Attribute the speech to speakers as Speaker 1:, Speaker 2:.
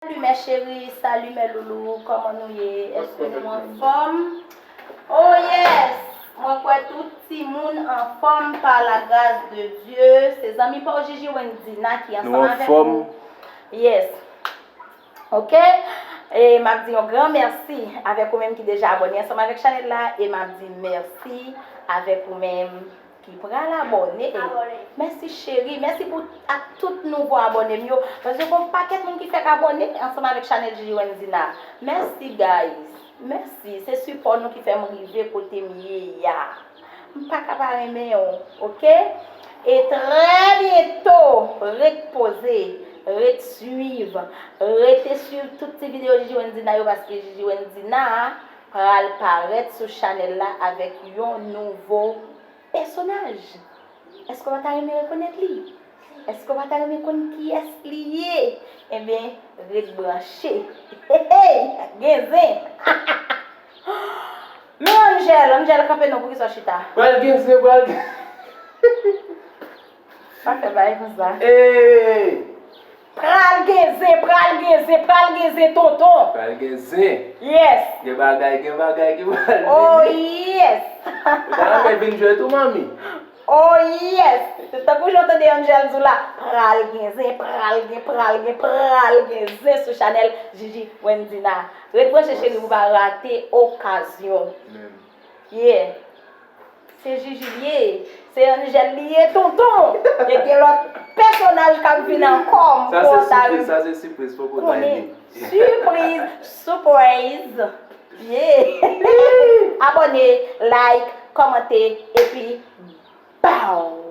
Speaker 1: Salut mes cherie salut mes loulous koman nou ye eske nou anfom oh yes mwen kwè tout timoun anfom par la gras de Dieu se zanmi paw Jiji Wendina ki ansanm avèk ou yes ok e map di yon gran merci avèk ou menm ki deja abone ansanm avèk chanel la e map di merci avèk ou menm. Ki pral abòne e. Mèsi cheri, mèsi pou ak tout nouvo abòne m yo, paske gon pakèt moun ki fèk abòne ansanm avèk chanèl Gigi Wendina. Mèsi guys, mèsi se sipò nou ki fè m rive kote m ye ya. M pa ka pa renmen w ok. E trè byento, ret poze, ret swiv, rete swiv tout ti videyo Gigi Wendina yo paske Gigi Wendina. pral parèt sou chanèl la avèk yon nouvo pèsonaj èske wap ta renmen rekonèt li? èske wap ta renmen konn kiyès li ye? enben ret branche heyy gen zen hahahaa men Angel, Angel kanpe non poukisa w chita? Pral gen zen pral gen
Speaker 2: zen.
Speaker 1: Sa fè bay konsa. Eeeeee!
Speaker 2: Pral
Speaker 1: gen zen, pral gen zen, pral gen zen tonton! Pral gen zen!
Speaker 2: Yes! Gen
Speaker 1: bagay, gen
Speaker 2: bagay ki pral vini! Oh
Speaker 1: yes! Ou ta renmen
Speaker 2: vin jwe tou manmi? Oh
Speaker 1: yes! Tankou jan w tande Angel di w la, pral gen zen, pral gen, pral gen, pral gen zen sou chanèl Jiji Wendina a. Ret branche cheri pou w pa rate okazyon! Menm. Yeah! Se jiji li ye. Se Angel li ye tonton. E gen lot pèsonaj kap vin anko m tro ta ri. Sa se sipriz sa se
Speaker 2: sipriz poko nan ede. Sipriz
Speaker 1: Supraise yeah Abone like komante epi baww.